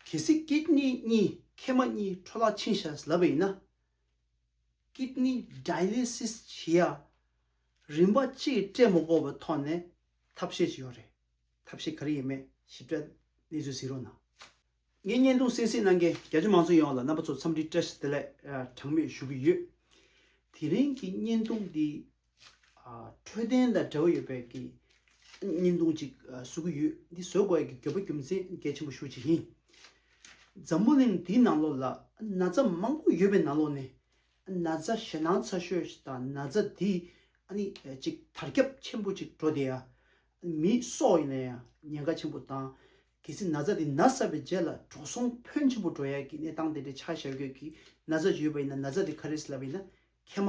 གལ་སྲིད Kidney གཉིས་མཁལ་མ་གཉིས་འཕྲོ་བརླག་ཕྱིན་བཞག་ཟླ་བ་ཡིན་ན། Kidney Dialysis བྱེད་ཡ། རིམ་པ་གཅིག་སྤྲད་མ་གོ་བའི་ཐོག་ནས་ཐབས་ཤེས་ཅི་ཡོད་རེད། ཐབས་ཤེས་ག་རེ་ཡིན་མེད་ཞིབ་ཕྲ་གནས་ཚུལ་གཟིགས་རོགས་གནང། ངས་བརྙན་ཐུང་གསན་གཟིགས་གནང་མཁན་རྒྱ་ཆེ་མང་ཚོགས་ཡོངས་ལ་རྣམ་པ་ཚོར་འཚམས་འདྲི་བཀྲ་ཤིས་བདེ་ལེགས་གྲངས་མེད་ཞུ་གི་ཡོད། དེ་རིང་གི་བརྙན་ཐུང་འདི་འཕྲོད་བསྟེན་དང་འབྲེལ་བ་ཡོད་པའི་བརྙན་ཐུང་གཅིག་བཟོ་གི་ཡོད། འདི་བཟོ་དགོས་ཀྱི་དགོས་པ་རྒྱུ་མཚན་གལ་ཆེན་པོ་ཤུགས་གཅིག་ཡིན། འཛམ་བུ་གླིང་འདིའི་ནང་ལོགས་ལ་ན་ཚ་མང་པོ་ཡོད་པའི་ནང་ལོགས་ནས་ན་ཚ་ཞེད་སྣང་ཚ་ཤོས་དང་ན་ཚ་འདི་གཅིག་དར་ཁྱབ་ཆེན་པོ་གཅིག་འགྲོ་བསྡད་ཡ། མི་སྲོག་ཡིན་ན་ཡང་ཉེན་ཁ་ཆེན་པོ་དང། གལ་སྲིད་ན་ཚ་འདི་ན་ས་པའི་རྗེས་ལ་འགྲོ་སོང་ཕོན་ཆེན་པོ་འགྲོ་ཡ་གི་གནས་སྟངས་དེ་འདྲའི་ཆ་བཞག་ཡོད་གི་ན་ཚ་ཞིག་ཡོད་པ་ཡིན་ན་ན་ཚ་འདི་ག་རེ་སླེབས་པ་ཡིན་ན་ཁས་མ་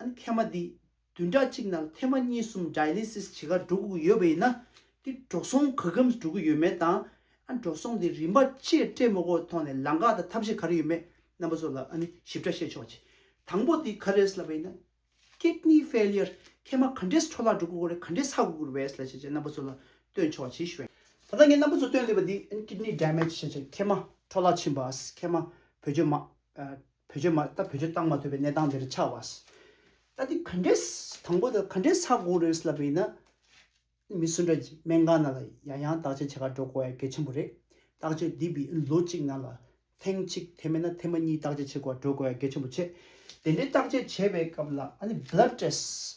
ཨ་ནི་ཐེ་མ་འདི་བདུན་ཕྲག་གཅིག་ནང་ཐེ་མ་གཉིས་གསུམ Dialysis བྱེད་ཁར་འགྲོ་དགོས་ཀྱི་ཡོད་པ་ཡིན་ན། འདི་འགྲོ་སོང་ག་གམ་འགྲོ་གི་ཡོད་མེད་དང། ཨ་འགྲོ་སོང་འདི་རིམ་པ་ཆེས་སྤྲད་མོ་གོ་ཐོག་ནས་ལང་ཀ་དང་ཐབས་ཤེས་ག་རེ་ཡོད་མེད་རྣམ་པ་ཚོ་ལ་ཨ་ནི་ཞིབ་ཕྲ་བཤད་ཆོག་ཅིག་དང་པོ་འདི་ག་རེས་ལབ་པ་ཡིན་ན། Kidney Failure ཐེ་མ་ག་འདྲེས་འཕྲོ་བརླག་འགྲོ་དགོས་གོ་རེ་ག་འདྲེས་ཚ་དགོས་གོ་རེ་བས་ལ་བྱས་བྱས་རྣམ་པ་ཚོ་ལ་སྟོན་ཆོག་ཅིག་ཞུ། ད་ལྟ་ངས་རྣམ་པ་ཚོ་སྟོན་བསྡད་པ་འདི་ཨ་ནི Kidney Damage བྱས་བྱས་ཐེ་མ་འཕྲོ་བརླག་ཕྱིན་པ། ཨ་ཁེ་མ་བུ་ཆོས་མ། བོད་ཆོས་མ་ད་བོད་ཆོས་བཏང་མ་ཐུབ་པའི་གནས་སྟངས་འདིར་ཆགས་བ། ད་འདི་ག་འདྲའི་དང་པོ་དང་ག་འདྲའི་ས་དགོངས་རེད་ལབ་པ་ཡིན་ན། མི་སུ་འདྲ་གྱིས་སྨན་ཁང་ནང་ལ་ཡང་ཡང་བརྟག་དཔྱད་བྱེད་ཁར་འགྲོ་དགོས་ཡ་གལ་ཆེན་པོ་རེད། བརྟག་དཔྱད་འདི་བི་ལོ་གཅིག་ནང་ལ་ཐེངས་གཅིག་དེ་མེད་ན་ཐེངས་མ་གཉིས་བརྟག་དཔྱད་བྱེད་དགོས་ཡ་འགྲོ་དགོས་ཡ་གལ་ཆེན་པོ་ཆེ། དེ་འདྲའི་བརྟག་དཔྱད་བྱེད་པའི་སྐབས་ལ་ཨ་ནི Blood Test།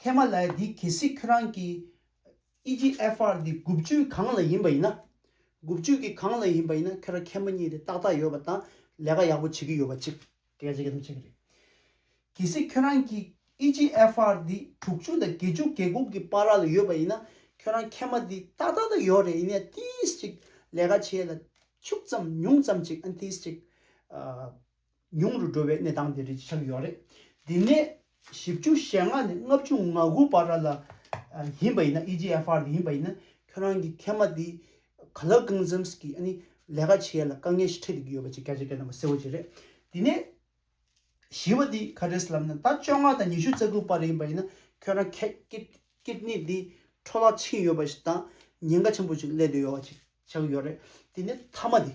ཁྱེད་མ་ལའི་འདི་གལ་སྲིད་ཁྱོད་རང་གི། EGFR འདི་དགུ་བཅུའི་གང་ལ་ཡིན་པ་ཡིན་ན། དགུ་བཅུ་གི་གང་ལ་ཡིན་པ་ཡིན་ན་ཁྱོད་རང་ཁྱེད་མ་གཉིས་དེ་ཏག་ཏག་ཡོད་པ་དང་ལས་ཀ་ཡག་པོ་བྱེད་ཀྱི་ཡོད་པ་གཅིག། གལ་སྲིད་གལ་སྲིད་གཅིག་རེད། གལ་སྲིད་ཁྱོད་རང་གི EGFR འདི་དྲུག་བཅུ་དང་བརྒྱད་བཅུ་གེ་དགུ་གི་བར་ལ་ཡོད་པ་ཡིན་ན་ཁྱོད་རང་ཁྱེད་མ་འདི་ཏག་ཏག་ཏག་ཡོད་རེད་ཡིན་ནའི་ཏིས་གཅིག་ལས་ཀ་བྱས་ལ་ཕྱུག་ཙམ་ཉུང་ཙམ་གཅིག་ཨན་ཏིས་གཅིག། ཉུང་རུ་འགྲོ་བའི་གནས་སྟངས་དེ་རེད་ཅེས་ཆགས་ཡོད་རེད། དེ་ནས་བཞི་བཅུ་ཞེ་ལྔ་ནས་ལྔ་བཅུ་ང་དགུ་བར་ལ་ཡིན་པ་ཡིན་ན EGFR དེ་ཡིན་པ་ཡིན་ན་ཁྱོད་རང་གི་མཁལ་མ་དེ་ག་ལ་རྐང་འཛེམས་ཀྱིས་ཨ་ནི་ལས་ཀ་བྱེད་ཡ་ལ་དཀའ་ངལ་ཞིག་འཕྲད་བསྡད་ཡོད་པ་ཅིག་སྐད་ཆ་སྐད་ནང་མ་གསལ་བོ་ཅིག་རེད། དེ་ནས་བཞི་བ་དེ་ཁ་བྲལ་ལབ་ན་ད་བཅོ་ལྔ་དང་ཉི་ཤུ་རྩ་དགུ་བར་ཡིན་པ་ཡིན་ན་ཁྱོད་རང་མཁལ Kidney དེ་འཕྲོ་བརླག་ཕྱིན་ཡོད་པ་ཞིག་དང་ཉེན་ཁ་ཆེན་པོ་ཅིག་སླེབས་བསྡད་ཡོད་བ་ཅིག་ཆགས་ཡོད་རེད། དེ་ནས་མཐའ་མ་དེ།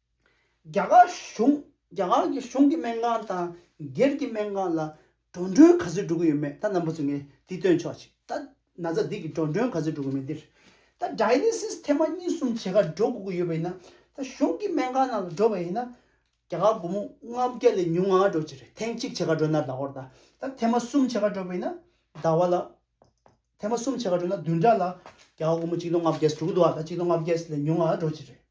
རྒྱ་གར་གཞུང་རྒྱ་གར་གྱི་གཞུང་གི་སྨན་ཁང་དང་སྒེར་གྱི་སྨན་ཁང་ལ་འགྲོ་མགྲོན་ག་ཚོད་འགྲོ་གི་ཡོད་མེད་ད་ནམ་པ་ཚོས་ངས་འདི་སྟོན་ཆོག་ཅིག་ད་ན་ཚ་འདི་གི་འགྲོ་མགྲོན་ག་ཚོད་འགྲོ་གི་མེད་འདིར་ད Dialysis ཐེངས་མ་གཉིས་གསུམ་བྱེད་ཁར་འགྲོ་དགོས་ཀྱི་ཡོད་པ་ཡིན་ན་ད་གཞུང་གི་སྨན་ཁང་ནང་ལ་འགྲོ་བ་ཡིན་ན་རྒྱ་གར་སྒོར་མོ་ལྔ་བརྒྱ་ལས་ཉུང་ང་འགྲོ་ཅི་རེད་ཐེངས་གཅིག་བྱེད་ཁར་འགྲོ་ན་ཟླ་བར་ད་ད་ཐེངས་མ་གསུམ་བྱེད་ཁར་འགྲོ་བ་ཡིན་ན་ཟླ་བ་ལ་ཐེངས་མ་གསུམ་བྱེད་ཁར་འགྲོ་ན་བདུན་ཕྲག་ལ་རྒྱ་གར་སྒོར་མོ་གཅིག་སྟོང་ལྔ་བརྒྱ་ཟེར་འགྲོ་གི་འདུག་ཨ་ད་གཅིག་སྟོང་ལྔ་བརྒྱ་ལས་ཉུང་ང་འགྲོ་ཅི་རེད།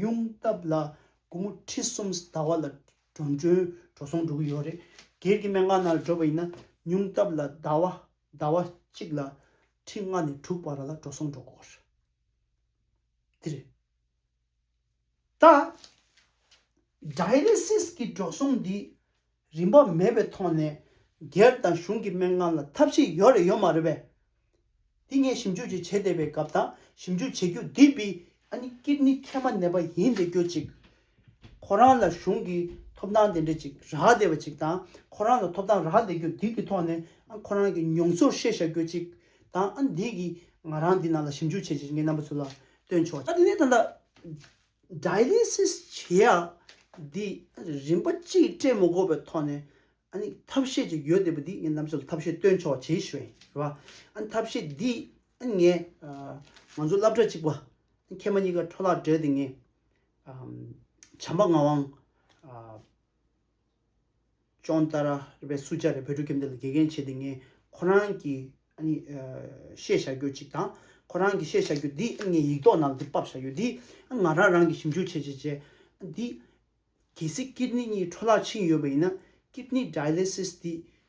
ཉུང་སྟབས་ལ་དགུང་མོ་ཁྲི་གསུམ་ཟླ་བ་ལ་འགྲོ་འགྲོན་འགྲོ་སོང་འགྲོ་གི་ཡོད་རེད། སྒེར་གྱི་མན་ངག་ནང་ལ་བགྲོད་པ་ཡིན་ན་ཉུང་སྟབས་ལ་ཟླ་བ་ཟླ་བ་གཅིག་ལ་ཁྲི་ལྔ་ནས་དྲུག་བར་ལ་འགྲོ་སོང་འགྲོ་དགོས་པ་རེད། འདི་རེད་ད། Dialysis གྱི་འགྲོ་སོང་འདི། རིན་པ་མེད་པའི་ཐོག་ནས་སྒེར་དང་གཞུང་གི་མན་ངག་ལ་ཐབས་ཤེས་ཡོད་རེད་ཡོད་མ་རེད་པས། འདི་ངས་ཞིབ་འཇུག་ཅིག་བྱེད་བསྡད་པའི་སྐབས་དང་ཞིབ་འཇུག་བྱེད་རྒྱུ་འདི་བི་ཨ་ནི་ཀིར་ནི་ཁེ་མ་ནེ་པ་ཡིན་བསྡད་རྒྱུ་ཅིག་ཁོ་རང་ལ་གཞུང་གི་ཐོབ་ཐང་དེ་འདྲ་ཅིག་རག་བསྡད་པ་ཅིག་དང་ཁོ་རང་ལ་ཐོབ་ཐང་རག་བསྡད་རྒྱུ་འདི་གི་ཐོག་ནས་ཨ་ཁོ་རང་གི་མྱོང་ཚོར་བཤད་བཞག་རྒྱུ་ཅིག་དང་ཨ་འདི་གི་ང་རང་འདི་ནང་ལ་ཞིབ་འཇུག་བྱེད་བྱེད་ཀྱི་ངའི་རྣམ་པ་ཚུར་ལ་སྟོན་ཆོག་ཨ་འདི་ནས་ད་ལྟ Dialysis། བྱེད་ཡག་འདི་རིམ་པ་གཅིག་སྤྲད་མ་གོ་བའི་ཐོག་ནས་ཐབས་ཤེས་ཅིག་ཡོད་བསྡད་པ་འདི་ངས་གནམ་ས་ལ་ཐབས་ཤེས་སྟོན་ཆོག་བྱེད་ཤེས་རེད་བ། ཐབས་ཤེས་འདི་ངས་ང་ཚོ་བསླབ་གྲྭ་གཅིག་པ་ཁྱེད་མ་གཉིས་ཀ་འཕྲོ་བརླག་བྲལ་ཏེ་ངས་བྱམས་པ་ངག་དབང། ཅོང་ཏཱ་ར་པའི་སུ་ཇཱ་རེ་བོད་ཕྲུག་ཁྱིམ་སྡེ་ལ་དགེ་རྒན་བྱས་ཏེ་ངས་ཁོ་རང་གི་བཤད་བྱ་རྒྱུ་གཅིག་དང། ཁོ་རང་གི་བཤད་བྱ་རྒྱུ་འདི་ངས་ཡིག་ཐོག་ནང་འདིར་དཔར་བྱ་ཡོད་དེ། ང་རང་རང་གིས་ཞིབ་འཇུག་བྱས་བྱས་བྱས་འདི། གལ་སྲིད་ཀིར་ནི་གཉིས་འཕྲོ་བརླག་ཕྱིན་ཡོད་པ་ཡིན་ན། Kidney Dialysis། འདི་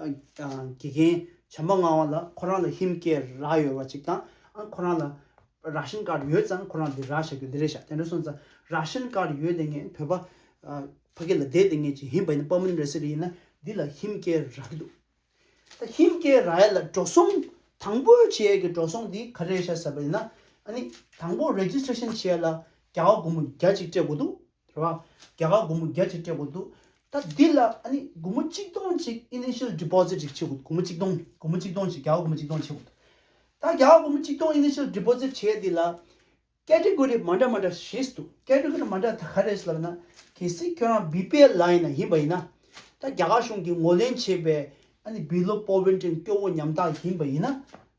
དགེ་རྒན་བྱམས་པ་མངའ་བ་ལ་ཁོ་རང་ལ་ཧིན་སྐད་རག་ཡོད་པ་ཅིག་དང་ཨང་ཁོ་རང་ལ་རག་ཤིན་དཀའ་རུ་ཡོད་ཙང་ཁོ་རང་འདི་རག་བྱ་རྒྱུ་འདི་རེད་བྱ་དེ་འདྲ་སོང་ཙང་རག་ཤིན་དཀའ་རུ་ཡོད་དེ་ངས་བོད་པ་ཕ་གི་ལ་བསྡད་དེ་ངས་ཅིག་ཧིན་བ་ཡིན་ན་པ་མིན་རེད་ཟེར་ཡིན་ན་འདི་ལ་ཧིན་སྐད་རག་གི་འདུག་ད་ཧིན་སྐད་རག་ཡ་ལ་འགྲོ་སོང་དང་པོ་བྱེད་ཡ་གི་འགྲོ་སོང་འདི་ག་རེད་བྱ་ཟེར་བ་ཡིན་ན་ཨ་ནི་དང་པོ་རེ་ཇིས་ཏྲེ་ཤིན་བྱེད་ཡ་ལ་བརྒྱ་བ་དགུ་མོ་བརྒྱ་ཅིག་སྤྲད་དགོས་འདུག་དེ་བ་རྒྱ་གར་སྒོར་མོ་རྒྱ་ཆེར་སྤྲད་དགོས་འདུག་ད་འདི་ལ་ཨ་ནི་སྒོར་མོ་གཅིག་སྟོང་གཅིག initial deposit ཞིག་བྱེད་དགོས་འདུག་སྒོར་མོ་གཅིག་སྟོང་སྒོར་མོ་གཅིག་སྟོང་ཞིག་རྒྱ་གར་སྒོར་མོ་གཅིག་སྟོང་བྱེད་དགོས་འདུག་ད་རྒྱ་གར་སྒོར་མོ་གཅིག་སྟོང initial deposit བྱས་འདི་ལ category མ་འདྲ་མ་འདྲ་བྱེད་འདུག category མ་འདྲ་ད་ག་རེད་ཟེར་ན་གལ་སྲིད་ཁྱོད་རང་བི་པའི་ལའེ་ན་ཡིན་པ་ཡིན་ན་ད་རྒྱ་གར་གཞུང་གིས་ངོ་ལེན་བྱས་པའི་ཨ་ནི་བི་ལོ་པོ་བན་ཀྲེན་སྐྱོ་བོ་ཉམ་ཐག་ཡིན་པ་ཡིན་ན་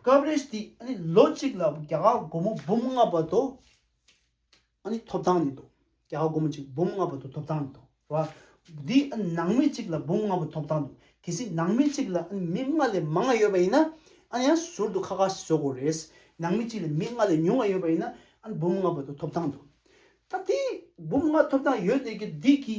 སྐབས་རེ་ཞིག་དེ་ནི་ལོ་གཅིག་ལ་རྒྱ་གར་སྒོར་མོ་འབུམ་ལྔ་བར་དུ་ཐོབ་ཐང་ནི་འདུག་རྒྱ་གར་སྒོར་མོ་གཅིག་འབུམ་ལྔ་བར་དུ་ཐོབ་ཐང་ནི་འདུག་ར་བ། དེ་ནང་མི་གཅིག་ལ་འབུམ་ལྔ་བར་ཐོབ་ཐང་འདུག་གལ་སྲིད་ནང་མི་གཅིག་ལ་མི་ལྔ་ལས་མང་བ་ཡོད་པ་ཡིན་ན་ཡང་ཟུར་དུ་ཁ་ཁ་ཞིག་བཟོ་དགོས་རེད། ནང་མི་གཅིག་ལ་མི་ལྔ་ལས་ཉུང་བ་ཡོད་པ་ཡིན་ན་འབུམ་ལྔ་བར་དུ་ཐོབ་ཐང་འདུག་ད་དེ་འབུམ་ལྔ་ཐོབ་ཐང་ཡོད་དེ་གི་དེ་གི།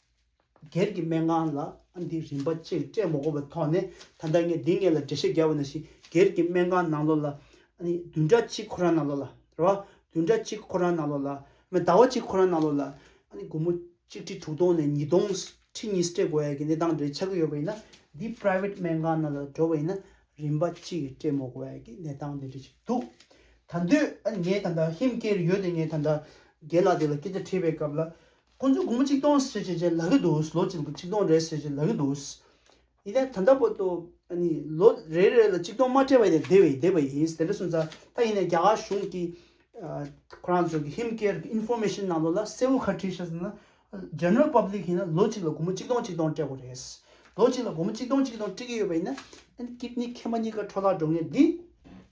སྒེར་གྱི་མན་ངག་ལ་ཨ་འདི་རིམ་པ་གཅིག་སྤྲད་མ་གོ་བའི་ཐོག་ནས་ད་ལྟ་ངས་འདི་ངེད་ལ་འགྲེལ་བཤད་རྒྱག་བ་ན་ཞིག་སྒེར་གྱི་མན་ངག་ནང་ལོགས་ལ་ཨ་ནི་བདུན་ཕྲག་གཅིག་ཁོ་རང་ནང་ལོགས་ལ་རེད་བ། བདུན་ཕྲག་གཅིག་ཁོ་རང་ནང་ལོགས་ལ་མི་ཟླ་བ་གཅིག་ཁོ་རང་ནང་ལོགས་ལ་ཨ་ནི་དགུང་མོ་གཅིག་ཁྲི་དྲུག་སྟོང་ནས་ཉིས་སྟོང་ཁྲི་གཉིས་སྤྲད་དགོས་ཡ་གི་གནས་སྟངས་རེ་ཆགས་ཀྱི་ཡོད་པ་ཡིན་ན་འདི private མན་ངག་ནང་ལ་འགྲོ་བ་ཡིན་ན་རིམ་པ་གཅིག་སྤྲད་མ་གོ་བ་ཡ་གི་གནས་སྟངས་འདི་འདྲ་ཞིག་འདུག་ད་འདོད་ཨ་ནི་ངས་ད་ལྟ་ཧིམ་སྐད་རེ་ཡོད་དེ་ངས་ད་ལྟ་རྒན་ལགས་འདི་ལ་སྐད་ཆ་དྲིས་པའི་སྐབས་ལ་ཁོ་ཚོས་དགོང་མོ་གཅིག་སྟོང་ཟེར་བྱས་ལ་གི་འདུག་ལོ་གཅིག་གཅིག་སྟོང་རེ་ཟེར་བྱས་ལ་གི་འདུག་ཡིན་ནའི་ད་ལྟ་བོད་དུ་ནི་ལོ་རེ་རེ་ལ་གཅིག་སྟོང་མ་སྤྲད་པ་ཡིན་ནའི་བསྡད་བསྡད་པ་ཡིན་དེ་འདྲ་སོང་ཙང་ད་ཡིན་ནའི་རྒྱ་གར་གཞུང་གི་ཁོ་རང་ཚོ་གི་ཧིམ་ཀེར་གི Information ནང་དུ་ལ་གསལ་བོ་ཁ་བྲིས་ཤག་ཟེར་ན General Public ཡིན་ན་ལོ་གཅིག་ལ་དགོང་མོ་གཅིག་སྟོང་གཅིག་སྟོང་སྤྲད་དགོས་རེད། ལོ་གཅིག་ལ་དགོང་མོ་གཅིག་སྟོང་གཅིག་སྟོང་སྤྲད་ཀྱི་ཡོད་པ་ཡིན་ན། ཨན་ཀིད་ནི་ཁེ་མ་གཉིས་ཀ་འཕྲོ་བརླག་འགྲོ་ངེས་འདི།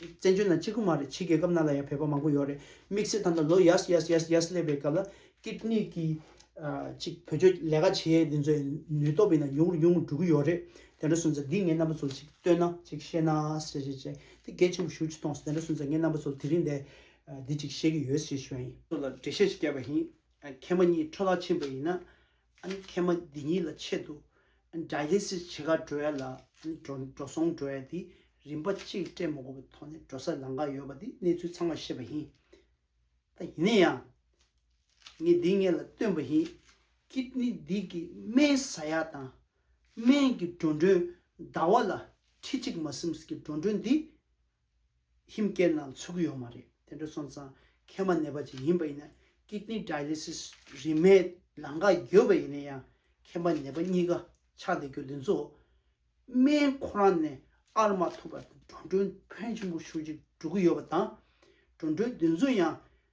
བཙན་བྱོལ་ན་གཅིག་པུ་མ་རེད་ཕྱི་རྒྱལ་ཁབ་རྣམས་ལ་ཡང་བོད་པ་མང་པོ་ཡོད་རེད་དམིགས་བསལ་ད་ལྟ་ལོ་ཡར་ཡར་ཡར་ཡར་སླེབས་པའི་སྐབས་ལ་སྐད་གཉིས་ཀྱིས་ཅིག་བོད་ཆོས་ལས་ཀ་བྱེད་འདི་ཚོའི་ནུས་སྟོབས་ཡིན་ན་ཉུང་རུ་ཉུང་རུ་འགྲོ་གི་ཡོད་རེད་དེ་འདྲ་སོང་ཚེ་འདི་ངའི་རྣམ་པ་ཚོར་ཅིག་བསྟོད་ན་ཅིག་བཤད་ན་ཞེས་བཤད་བྱས་དེ་གལ་ཆེན་པོ་ཞུ་ཅི་ཐོངས་དེ་འདྲ་སོང་ཚེ་ངའི་རྣམ་པ་ཚོར་དེ་རིང་འདི་འདི་ཅིག་བཤད་ཀྱི་ཡོད་ཞེས་ཞུ་ཡ་ཡིན། ཚོ་ལ་འགྲེལ་བཤད་ཅིག་བསྐྱལ་བ་ཡིན། མཁན་པ་གཉིས་འཕྲོ་བརླག་ཕྱིན་པ་ཡིན་ན། ཨ་ནི་མཁལ་མ་འདི་གཉིས་ལ་ཆེད་དུ Dialysis བྱེད་ཁར་འགྲོ་ཡ་ལ་འགྲོ་སོང་འགྲོ་ཡ་དེ་རིམ་པ་གཅིག་སྤྲད་མ་དགོས་པའི་ཐོག་ནས་འགྲོ་སར་ལངས་ཀ་ཡོད་པ་དེ་གནས་ཚུལ་ཚང་མ་ཤེས་པ་ཡིན། ད་ཡིན་ན་ཡང་ངས་འདི་ངས་ལ་སྟོན་པ་ཡིན Kidney འདི་གི་སྨན་ཟ་ཡ་དང་སྨན་གྱི་འགྲོ་འགྲོན་ཟླ་བ་ལ་ཁྲི་གཅིག་མ་སིམས་ཀྱི་འགྲོ་འགྲོན་འདི་ཧིམ་སྐད་རྣམས་ཚུགས་ཀྱི་ཡོད་མ་རེད་དེ་འདྲ་སོང་ཙང་ཁས་མ་ནས་པ་ཅིག་ཡིན་པ་ཡིན་ན Kidney Dialysis རིན་མེད་ལང་ཀ་འགྱོད་པ་ཡིན་ན་ཡང་ཁས་མ་ནས་པ་གཉིས་ཀ་ཆགས་བསྡད་རྒྱུ་འདི་ཚོ་སྨན་ཁོ་རང་ནས་ཨར་མ་ཐུབ་པར་འགྲོ་འགྲོའི་ཕོན་ཆེན་པོ་ཤུགས་ཀྱིས་སྒྲུག་གི་ཡོད་པ་དང་འགྲོ་འགྲོའི་འདི་ཚོ་ཡང་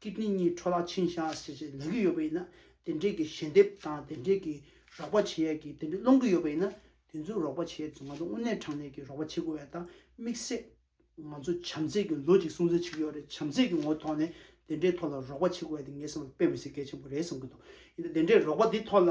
ཀི་ཏི་གཉིས་འཕྲོ་བརླག་ཕྱིན་བཞག་ཟེར་བཞིན་ལེན་གྱི་ཡོད་པ་ཡིན་ན་དེ་འབྲེལ་གྱི་ཞལ་འདེབས་དང་དེ་འབྲེལ་གྱི་རོགས་པ་བྱེད་ཡས་ཀྱི་དེ་འབྲེལ་སློང་གི་ཡོད་པ་ཡིན་ན་དེ་ཚོའི་རོགས་པ་བྱེད་ཡས་ཚོ་ང་ཚོ་དངོས་གནས་དྲང་གནས་ཀྱི་རོགས་པ་བྱེད་དགོས་ཡས་དང་དམིགས་བསལ་ང་ཚོ་བྱམས་བརྩེ་གྱི་ལོ་གཅིག་སྲུང་བརྩི་བྱེད་ཀྱི་ཡོད་རེད་བྱམས་བརྩེ་གྱི་ངོ་ཐོག་ནས་དེ་འདྲའི་ཐོག་ལ་རོགས་པ་བྱེད་དགོས་ཡས་དེ་ངས་བསམ་བློ་དཔེ་མི་སེ་གལ་ཆེན་པོ་རེད་བསམ་གྱི་འདུག་ཡིན་ན་དེ་འདྲའི་རོགས་པ་དེ་ཐོག་ལ།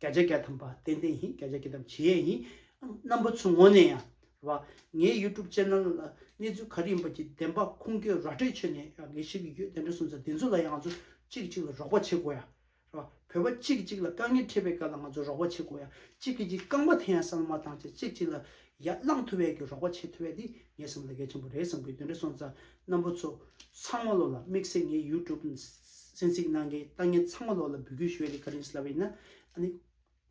བརྒྱ་ཆ་བརྒྱ་དམ་པ་ཏན་ཏན་ཡིན་བརྒྱ་ཆ་བརྒྱ་དམ་བྱེད་ཡས་ཡིན། རྣམ་པ་ཚོའི་ངོ་ནས་ཡང་རེད་བ། ངའི YouTube Channel ལ་གནས་ཚུལ་ག་རེ་ཡིན་པ་ཀྱི་བདེན་པ་ཁུངས་སྐྱེལ་ར་སྤྲོད་ཆོད་ནས་ཡང་ངས་བྱེད་ཀྱི་ཡོད་དེ་འདྲ་སོང་ཚ་དེ་ཚོ་ལ་ཡང་ང་ཚོ་གཅིག་གཅིག་ལ་རོགས་པ་བྱེད་དགོས་ཡ་རེད་བ། བོད་པ་གཅིག་གཅིག་ལ་དཀའ་ངལ་འཕྲད་པའི་སྐབས་ལ་ང་ཚོ་རོགས་པ་བྱེད་དགོས་ཡ་གཅིག་གཅིག་རྐང་པ་འཐེན་ཡ་ས་ལ་མ་བཏང་བྱས་གཅིག་གཅིག་ལ་ཡར་བླངས་ཐུབ་བས་ཀྱི་རོགས་པ་བྱེད་ཐུབ་བས་འདི་ངའི་བསམ་བློ་གལ་ཆེན་པོ་རེད་བསམ་གི་དོན་དྲི་སོང་ཙང་རྣམ་པོ་ཚོ་ཚང་མ་ལོ་ལ་དམིགས་བསལ་ངའི་ཡུ་ཀྲུབ་གསན་གཟིགས་གནང་མཁན་ལྟ་ངན་ཚང་མ་ལོ་ལ་འབུལ་རྒྱུ་ཞུ་བས་འདི་ཀ་རིང་སླ་བས་ན་ཨ་ནི་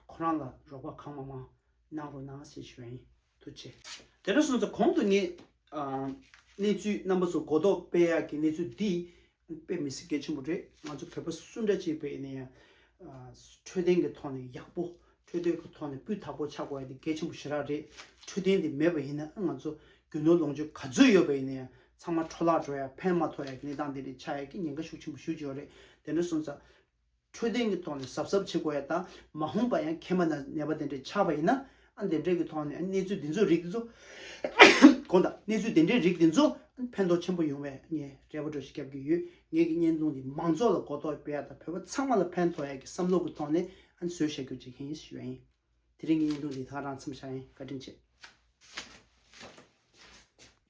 ཁོ་རང་ལ་རོགས་པ་གང་མང་མང་གནང་རོགས་གནང་ཞེས་ཞུ་བ་ཡིན་ཐུགས་ཆེ། དེ་འདྲ་སོང་ཙང་གོང་དུ་ངས་གནས་ཚུལ་རྣམ་པ་ཚོ་གོ་རྟོགས་སྤེལ་ཡག་གི་གནས་ཚུལ་འདི་དཔེ་མི་སྲིད་གལ་ཆེན་པོ་རེད་ང་ཚོ་བོད་པ་སུ་འདྲ་ཅིག་བས་ནས་འཕྲོད་བསྟེན་གྱི་ཐོག་ནས་ཡག་པོ་འཕྲོད་བསྟེན་གྱི་ཐོག་ནས་སྤུས་དག་པོ་ཆགས་དགོས་དེ་གལ་ཆེན་པོ་ཞེ་དྲག་རེད་འཕྲོད་བསྟེན་དེ་མེད་པ་ཡིན་ན་ང་ཚོ་རྒྱུ་ནོར་ལོངས་སྤྱོད་ག་ཚོད་ཡོད་པས་ནས་ཚང་མ་འཕྲོ་བརླག་འགྲོ་ཡ་ཕན་མ་ཐོག་ཡ་གི་གནས་སྟངས་དེ་རེད་ཆགས་ཡ་གི་ཉེན་ཁ་ཤུགས་ཆེན་པོ་ཞུ་ཅི་ཡོད་རེད་དེ་འདྲ་སོང་ཙང། འཕྲོད་བསྟེན་གྱི་ཐོག་ནས་གཟབ་གཟབ་བྱེད་དགོས་ཡ་དང་མ་འོངས་པ་ཡང་ཁྱེད་མ་ནར་ནད་པ་དེ་འདྲས་ཆགས་པ་ཡིན་ན་ཨ་འདི་འདྲས་ཀྱི་ཐོག་ནས་གནས་ཚུལ་འདི་ཚོ་རིགས་འདི་ཚོ་གོ་ད་གནས་ཚུལ་འདི་འདྲས་རིགས་འདི་ཚོ་ཕན་ཐོག་ཆེན་པོ་ཡོང་བས་ངས་རེ་བ་གྲོས་ཞིག་རྒྱབ་ཀྱི་ཡོད་ངེད་ཀྱི་བརྙན་ཐུང་འདི་མང་ཚོགས་ལ་གོ་རྟོགས་སྤེལ་ཡ་དང་བོད་པ་ཚང་མ་ལ་ཕན་ཐོགས་ཡ་གྱི་བསམ་བློ་གྱི་ཐོག་ནས་ཨ་བཟོས་བཤད་རྒྱུ་བྱེད་མཁན་ཡིན་ཞེས་ཞུ་བ་ཡིན་དེ་རིང་གི་བརྙན་ཐུང་འདི་ད་རང་འཚམས་ཤག་ཡིན་བཀའ་དྲིན་ཆེ།